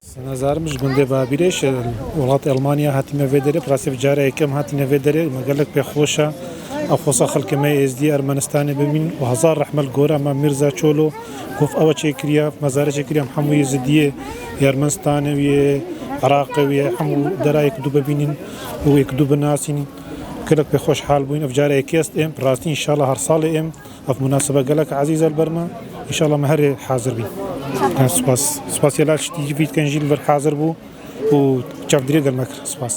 Senezarim ji gundê Babîrê ji welatê Elmanya hatîme vê derê. Bi rastî bi cara yekem hatîne vê derê. Me gelek pê xweş e. Ew xwesa xelkê me yê Êzdî, Ermenistanê bimîn û hezar rehme li gora me Mîrza Çolo ku ev e çêkiriya mezarê çêkiriya hemû Êzidiyê yê Ermenistanê û yê Iraqê û yê hemû dera yê ku dû bibînin û yê ku dû binasînin. Gelek pê xweş hal bûyîn. Ev cara yekê est êm. Bi rastî înşala her salê êm. Ev munasebe gelek ezîz e li ber me. Înşallah me herê hazir bîn. Spas. Spasiyê lal şitî jî vî dikin jî li vir hazir bû û çavdîrê gel me kir. Spas.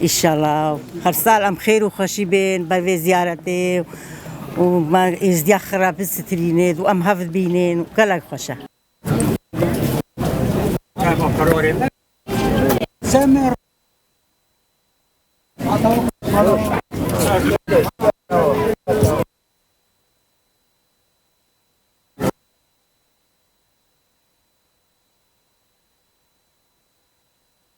Îşallah her sal em xêr û xweşî bên ber vê ziyaretê û me êzdiya xira bisitirînê û em hev bînên gelek xweş e.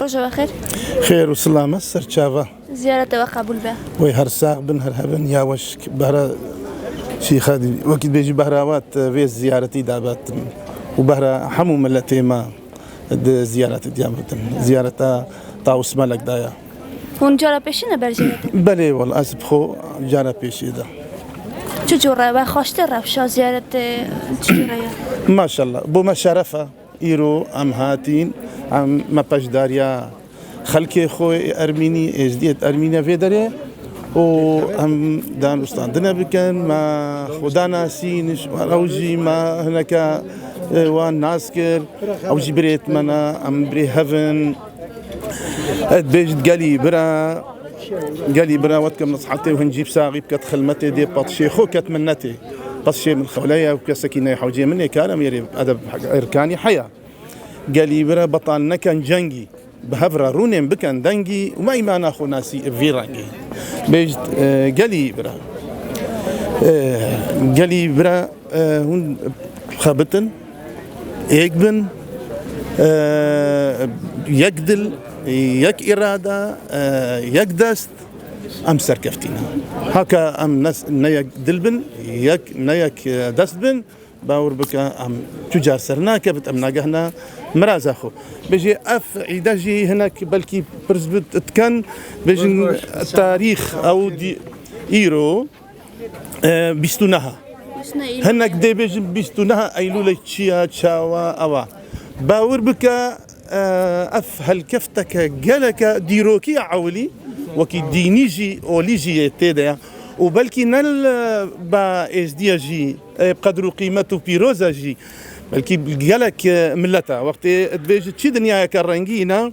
Roja we xêr. Xêr û silame serçava. Ziyarete we qebûl be. Wê her sax bin her hebin ya weş behra şîxa dî. Wekî bêjî behra wat vê ziyaretî da betin û behra hemû miletê me di ziyaretê diya betin. Ziyareta Tawus Melek da ya. Hûn cara pêşî ne berjêretin? Belê wal ez bi xwe cara pêşî de. Çi cure we xweştir rewşa ziyaretê çi cure ye? Maşallah bo me şeref e. Îro em hatîn, em me peşdariya xelkê xwe yê Ermînî, Êzdîyê Ermînî ye vê derê û em danûstandine bikin, me xwe danasîn, ew jî me hineke wan nas kir, ew jî birêt me ne, em birê hev in. Ez dibêjit gelî bira gelî bira wet ke nesihetê û hincî saxî bike di xilmetê dê petişê xwe ket min netê. Petişê min xewle ye û kesekî ne hewcê min ê kare min erê edeb erkanî heya. Gelî bira betal nekin cengî bi hev re rûnên bikin dengî û me îmana xwe nasî bi vî rengî. Bêjit gelî bira gelî bira hûn xebitin Yek bin, yek dil, yek îrade, yek dest em serkeftî ne. Heke em ne yek dil bin, yek ne yek dest bin bawer bike em tu car ser nakevit em nagehne miraza xwe. Bêjî ev îde jî hinek belkî pirs bi diken bêjin tarîx ew îro Bîst û neha. Hinek dê bêjin bîst û neha Eylûlê çiya, çawa, ewa. Bawir bike ev helkefteke geleke dîrokî ya ewilî wekî dînî jî olî jî yê tê de ye û belkî ne li ba êzdiye jî qedir û qîmet û pîroze jî belkî gelek milet e. Wextê dibêjin çi dinyayeke rengîn e.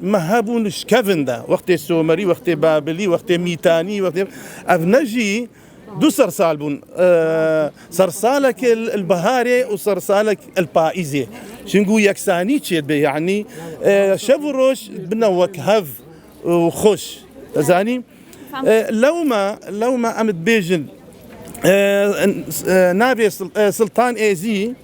Me hebûn ji kevin de, wextê Somerî, wextê Babilî, wextê Mîtanî, wextê ev ne jî du sersal bûn. Sersalek li biharê û sersalek li paîzê. Çingû yeksanî çê dibe yanî şev û roj bine wek hev û xweş. Zanî lewma lewma em dibêjin navê Siltan Êzî.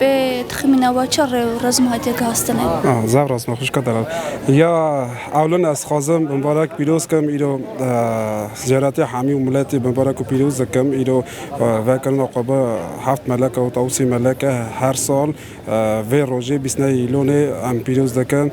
Bi tixmîna we çi rê û rezm hatiye gihastinê? Ah, zaf rast me xwişka Delal. Ya ewlin ez dixwazim bi mibarek pîroz kim îro zîyaretê hemî û miletê bi mibarek û pîroz dikim. Îro vekirina xwe bi heft meleke û tewsî meleke her sal vê rojê bîst neyê îlonê em pîroz dikin.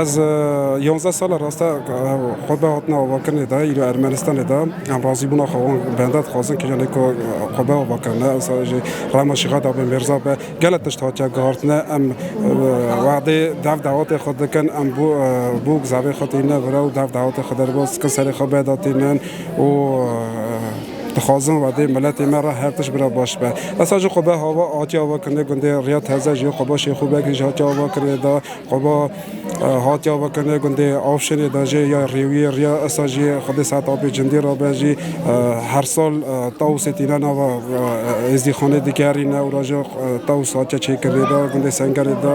Ez yonzdeh sal e raste xwebe hatina avakirinê de îro Ermenistanê de em razîbûna xwe wan benda dixwazin kiriya lê ku xwebe ava kirin ne ewsa jî rema şîxa de be mêrza be gelek tişt hatiye guhartine em wexdê dev dawetê xwe dikin em bû bûk zavê xwe tîne vire û dev dawetê xwe derbas dikin serê xwe beda tînin û dixwazin wexdê miletê me re her tişt bira baş be ewsa jî xwebe hava hatiye avakirinê gundê riya tevze jî xweba şêxû bekirî jî hatiye avakirinê de Xweba hatiya vekirine gundê Avşênê de jî ya Rêwiyê, Riya Esa jî xwedê saet a pê cindî re bên jî her sal Tawusê tîne nava êzdîxanê digerîne û ra jî Tawus hatiye çêkirinê de gundê Sengerê de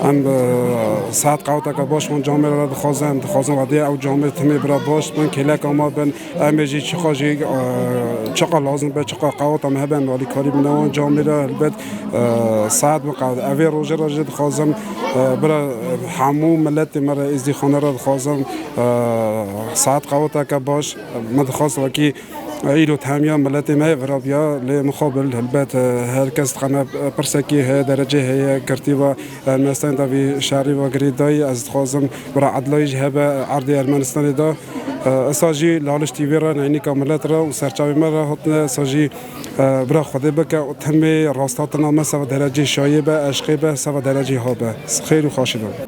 em saet qewteke baş wan camê re dixwazin em dixwazin xwedê ew camê timê bira baş bin kêleka ma bin emê jî çiqas jî çiqas lazim be çiqas qewta me hebe em alîkarî bine wan camê re helbet Saet Miqad, ev ê rojê re jî dixwazim bira hemû miletê me re Êzdîxanê re dixwazim saet qewateke baş min dixwest wekî îro temiya miletê me yê virabiya lê mixabil helbet her kes dixeme pirsekî heye derecê heye girtî be Ermenistanê de vî şerî ve girê dayî ez dixwazim bira edilayî jî hebe erdê Ermenistanê de. Esa jî li aliştî wê re neynika milet re û serçavên me re hatine esa jî Bira Xwedê bike û tenmê rasta tina me seva derecê şayê be, eşqê be, seva derecê ha be. Xêr û xaşî be.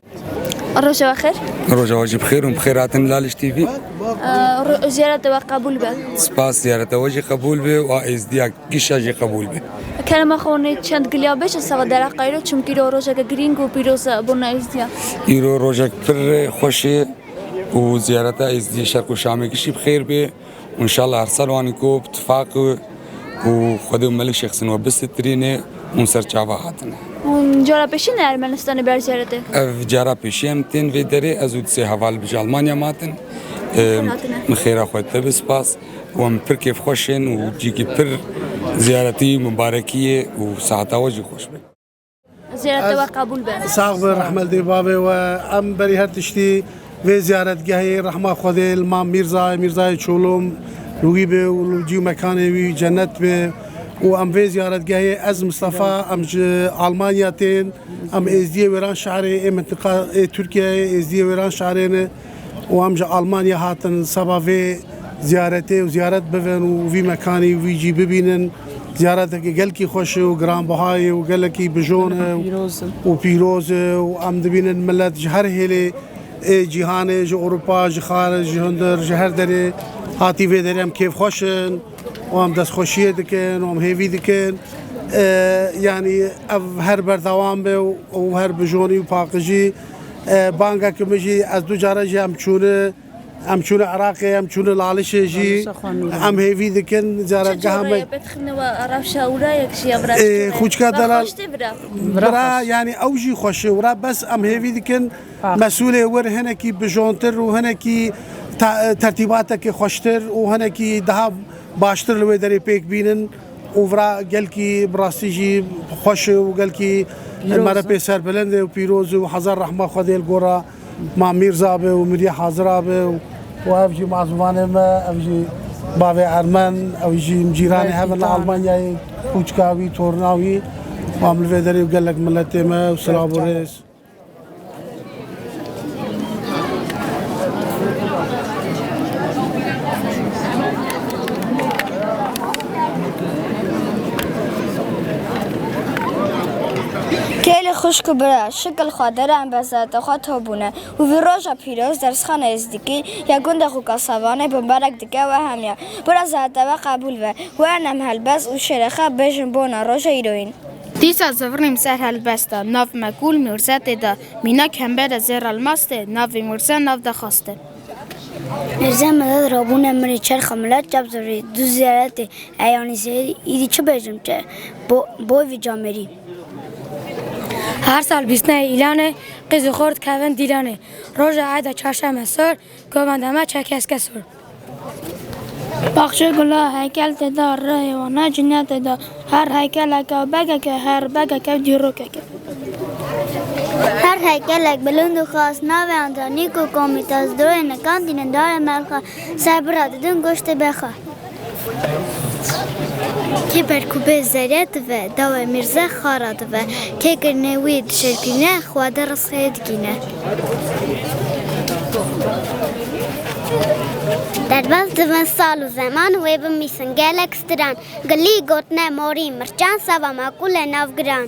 Roja xêr. Roja wajib xêr û xêr hatin Laliş TV. Ziyarete we qebul be. Spas ziyarete we jî qebul be û êzdiya kişa jî qebul be. Kerema xonê çend giliya be ji seva dera qayro çimkî ro rojeke girîng û pîroz e bona êzdiya. Îro rojek pir xweş ê û ziyareta êzdiyê şerq û şamê kişî bi xêr bê. û înşallah her sal wanî ku bi tifaqê ku Xwedê û Melik Şêx Sin we bisitirînê hûn ser çava hatine. Hûn cara pêşî ne Ermenistanê ber ziyaretê? Ev cara pêşî ye min tên vê derê. Ez û di sê heval li bijî Almanya me hatin. Min xêra xwe dide bi spas û em pir kêfxweş ên û cîkî pir ziyaretî, mibarekî ye û saheta we jî xweş be. Ziyarete we kabul be. Sağ be rahmetli babe ve em beri her tiştî vê ziyaretgehê rehma Xwedê li ma Mîrzayê Mîrzayê Çolum li wî be û li cî mekanê wî cennet be û em vê ziyaretgehê ez Mistefa em ji Almanya tên em êzdiyê wêran şerê ê mintiqa ê Tirkiyeyê êzdiyê wêran şerê ne û em ji Almanya hatin seba vê ziyaretê û ziyaret bibin û vî mekanî û vî cî bibînin. Ziyaretekî gelkî xweş e û giranbiha ye û gelekî bijon e û pîroz e û em dibînin milet ji her hêlê ê cîhanê ji Ewropa, ji xar, ji hundir, ji her derê hatî vê derê em kêfxweş in û em destxweşiyê dikin û em hêvî dikin yanî ev her berdewam be û her bijonî û paqijî Bangek min jî ez du care jî em çûne em çûne Iraqê em çûne Lalişê jî em hêvî dikin caretgeha me xûçka delal bira yanî ew jî xweşê wira bes em hêvî dikin mesulê wir hinekî bijontir û hinekî tertîbatekî xweştir û hinekî daha baştir li wê derê pêk bînin. Ovra gelkî bi rastî jî xweş e û gelkî me re pê serbilind e û pîroz e û hezar rehma Xwedê li gora Mam Mîrza be û Mirya Hazira be û û ev jî mazûmanê me ev jî bavê ermen ew jî cîranê hev in li Almanyayê kûçka wî torna wî mam li vê derê û gelek miletê me silav û rêz. Kêlê xuşk û bira, şikil xwe deran bezate xwe to bûne û vî roja pîroz dersxana Êzdikî ya gundê xwe Kasavanê bimbarek dike û hemya bira zate we qebûl be û ernem helbest û şêrê xwe bêjin bona roja îro yîn. Dîsa zivirnîm ser helbesta, nav me kûl mûrze tê de, mînak hembere zêr elmas tê, navê mûrze nav de xas tê. Mûrze medet rabûne min rê çerxa milet çap zivirî, du ziyare tê, e yanî sê, îdî çi bêjim, çi boy vî camêrî. Her sal bîstneyê îlanê, qîz û xort kevin dîlanê, roja eda çarşeme sor, govenda me çerkeske sor. Baxçe gula heykel tê de, rihê wan ne cîne tê de. Her heykelek ew begek e, her begek ew dîrokek e. Her heykelek bilind û xas, navê Antanîk û Komitas, doyê nikan tînin dayê merxa, ser bira didin goştê bexa. Kê perkûbê zerya dive, dawê mîrze xara dive, kê kirinê wî dişerpîne, xwedê risxê dikîne. Derbas divin sal û zeman wê bimîsin gelek stiran Gilî gotine morî mirçan sava maqûle navgiran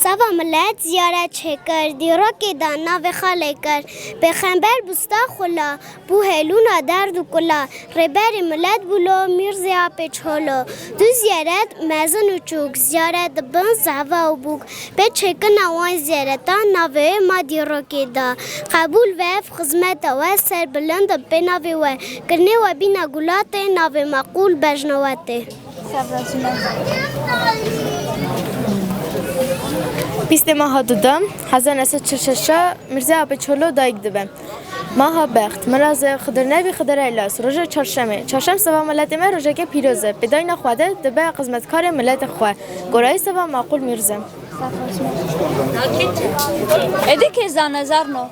Sava millet ziyaret çêkir dîrokê da navê xalê kir Pêxember bûsta xula Bû helûna derd û kula. Rêberê milet bû lo Mîrzê apê Çolo. Du zîyaret, mezin û çûk, zîyaret di bin zehva û bûk. Pê çêkirina wan zîyaretan navê wê ma dîrokê da. Qebûl ve ev xizmeta we ser bilind in pê navê we. Kirinê we bîna gulatê navê ma Qûl Bejnewetê. Pîstê ma hat û da. Hezar neh sed çil û şeş a Mîrzê apê Çolo dayik dibe. Maha bext, miraz e, Xidir nebî Xidir e Las, roja çarşem e. Çarşem seba miletê me rojeke pîroz e, bi dayna xwe de dibe xizmetkarê miletê xwe. Gorayî seba Maqûl Mîrz e. Êdî kê zane zar no.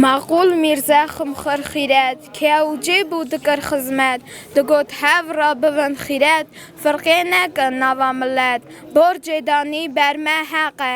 Maqûl Mîrz e ximxir xîret, kêya û cê bû dikir xizmet. Digot hev ra bibin xîret, firqê nekin nava milet. Borcê danî ber me heq e,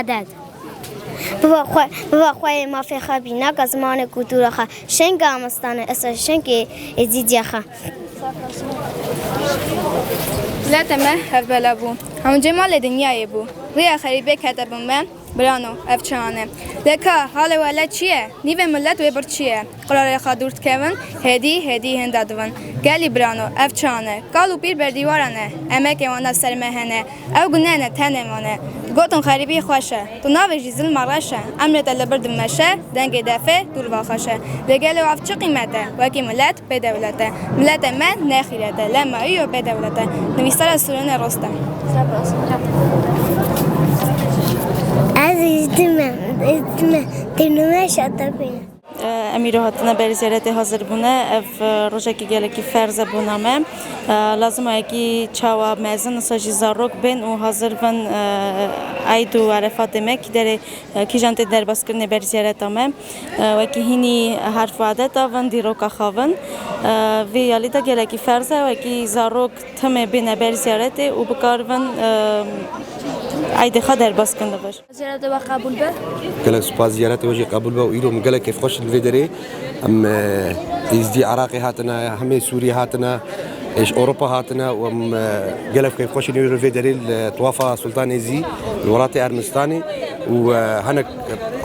Edeb. Biba xwe, biba xwe yê mafê xwe bî, naka zimanê kultura xwe, şenga amistane, esa şengê êzîdîya xwe. Milete me hevbela bû, hemû cemalê dinyayê bû. Rêya xerîbê kete bin me, birano, ev çi hane? Lê ka, halê wele çi ye? Nîvê milet wê bir çi ye? Qurarê xwe dûr dikevin, hêdî hêdî hênda divin. Gelî birano, ev çiya ne, kal û pîr berdîwara ne, emekê wan ev ser me hene, ew guneh ne, tenê wan e. Digotin xerîbî xweş e, tu navêjî zilma reş e, emrê te li bir di meşe, dengê defê dûr va xweş e. Lê gelo ev çi qîmet e, wekî milet, bê dewlet e. Miletê me ne xîret e, lê ma îyo bê dewlet e. Nivîsara Sûrînê Rostem. Em îro hatine berî ziyaretê hazir bûne. Ev rojekî gelekî ferz e bona me. Lazim e ekî çawa mezin wisa jî zarok bên û hazir bin eyd û erefatê me kî derê kîjan tê derbazkirinê berî ziyareta me. Wekî hînî herf û adet a vin dîroka xwe vin. Vê alî de gelekî ferz e wekî zarok timê bêne berî ziyaretê û bikar bin eydê xwe derbaz kirin li vir. Ziyaret ew qebûl be. Gelek spas ziyaretê we jî qebûl be û îro min gelek kêfxweş li vê derê em Êzdî Iraqê hatine hemê Sûriyê hatine êş Ewropa hatine û em gelek kêfxweşîn îro li vê derê li Tawafa Sultan Êzî li welatê Ermenistanê û hinek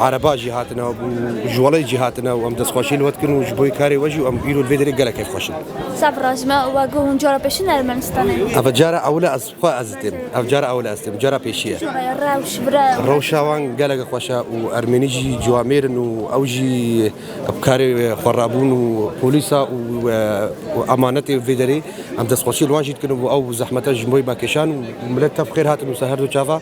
Ereba jî hatine û ji welêt jî hatine û em destxweşî li we dikin û ji bo karê we jî û em îro li vê derê gelek kêfxweş in. Saf rast me û we guh hûn cara pêşin Ermenistanê? Eve cara ewil e ez Xwe ez dîtim. Ev cara ewil e ez dîtim. Cara pêşî ye. Rewş bira. Rewşa wan gelek xweş e û ermênî jî ciwa mêr in û ew jî bi karê xwe rabûn û polîsa û emanetê vê derê em destxweşî li wan jî dikin û ew zehmet e ji bo wê me kêşan û milet tev xêr hatin wisa her du çava.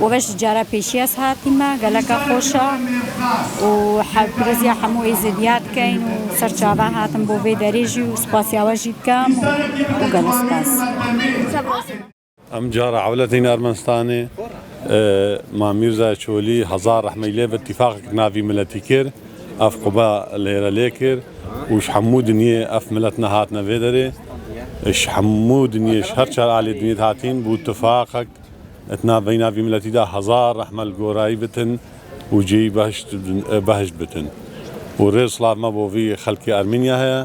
We ji cara pêşî ez hatîme, geleka xweş e û hevpiriziya hemû Êzidiya dikeyn û ser çava hatim bo vê derê jî û spasiya we jî dikim û gelo spas. Em cara ewletîn Ermenistanê Ma Mîrza Çolî hezar rehmeyî lê bi tîfaqek navî miletî kir, ev qube lêre lê kir û ji hemû dinyê ev milet nehatine vê derê. Ji hemû dinyê ji her çar aliyê dinyê dihatîn bû tifaqek. Di navbeyna vî miletî de hezar rehme li gorayî bitin û cihî behişt bitin. Û rê û silav me bo vî xelkê Ermeniya heye.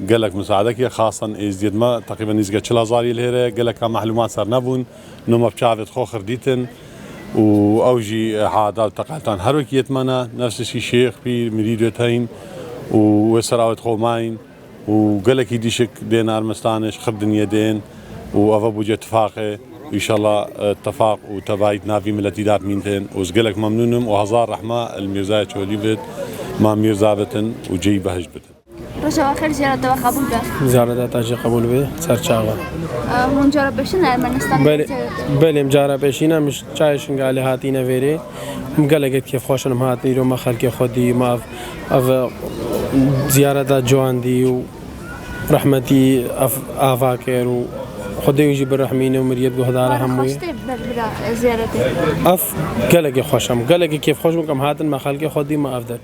Gelek misaedek ye. Xasen êzdiyê di me teqrîben nîzika çil hezar yê li hêr heye. Geleka mehlumat sernebûn. No me bi çavê di xwe xir dîtin. Û ew jî headal teqeltan her wekî yê di me ne. Nefs tiştî şêx, pîr, mirîd wê teyîn û wê sera wê di xwe mayîn. û gelekî dîşik dên Ermenistanê ji Xirdiniyê dên û eve bû cê tifaqê. Înşala tefaq û tevayî di nav vî miletî de mîn tên û ez gelek memnûn im û hezar rehme li Mîrzaya Çolî bid, ma Mîrza bitin û cêyî behişt bikin. Roja we xêr ziyareta we qebûl be. Ziyareta te jî qebûl be. Ser çax be. Hûn cara pêşîn li Ermenistanê Belê, ziyaret belê em cara pêşîn em ji çayê Şingalê hatîne vêrê. Em gelekê di kêfxweş in em hatin îro me xelkê xwe dî, me ev Ev ziyareta cuandî û rehmetî ev ava kir û Xwedê wî jî birehmîne û miriyet guhdara hemû yê. Ev gelekî xweş em. Gelekî kêfxweş bûn ku em hatin me xelkê xwe dî me ev det.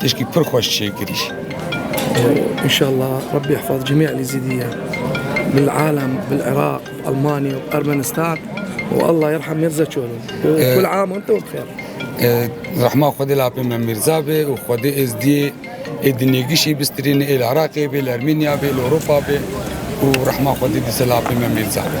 Tişkî pir xweş çê kirî. Înşallah Rabbî ihfaz cemî Elîzîdîyan bil alem bil Iraq Elmanî û Ermenistan û Allah yerhem Mirza Çolo. Kul am ente bi xeyr. Rehma Xwedê li apê me Mirza bê û Xwedê Êzdiyê ê di nêgişê bistirîne ê li Iraqê bê, li Ermênya bê, li Ewropa bê û rehma Xwedê dise li apê me Mirza bê.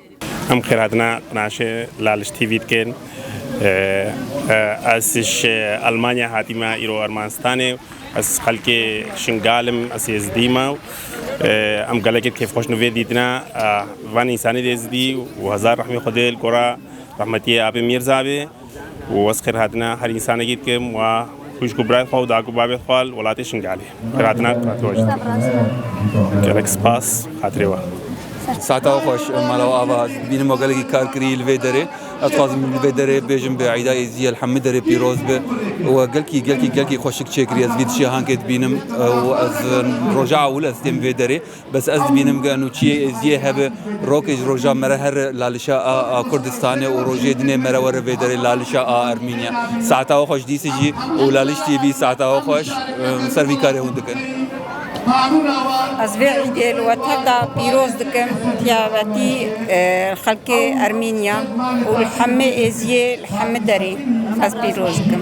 Em xêratina qnaşê Laliş TV dikin. Ez ji Elmanya hatîme îro Ermenistanê. Ez xelkê Şingal im, ez Êzidî me. Em gelekê kêfxweş li vê dîtina van însanê Êzidî û hezar rehmê Xwedê li gora rehmetiyê Abê Mîrza bê. û ez xêr hatine her însanekî dikim wa xwîşk û birayê xwe û dagû babê xwe li welatê Şingalê. Xêr hatine gelek spas xatirê we. Seheta we xweş mala we ava ez bînim we gelekî kar kirî li vê derê ez dixwazim li vê derê bêjim bi Îda Êzî el hemû derê pîroz be we gelkî gelkî gelkî xweşik çêkirî ez vî di cîhankê dibînim û ez roja ewil ez têm vê derê. Bes ez dibînim ke eno çiyê êziyê hebe, rokê ji roja me re here lalişa a a Kurdistanê û rojê dinê me re were vê derê lalişa a Ermînya. Saeta xweş dîsê jî û laliştiyê bî saeta xweş em ser vî karê hûn dikin. Ez vê îdê li we tev de pîroz dikim tiyabetî xelkê Ermînya û li hemê êziyê li hemê derê ez pîroz dikim.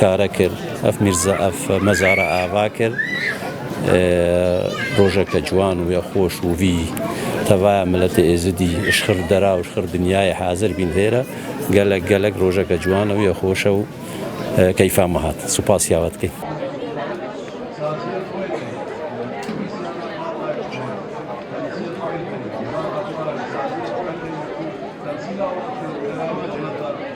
kare kir, ev mîrza ev mezara ava kir. Rojeke ciwan û ya xweş û vî tevaya miletê Êzidî ji xir dera û ji xir dinyayê hazir bîn vê re. Gelek gelek rojeke ciwan e û ya xweş e û keyfa me hat. Spas ya we dikin.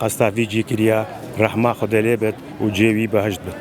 Qasta vî cî kiriya rehma Xwedê lê bit û cê wî behişt bit.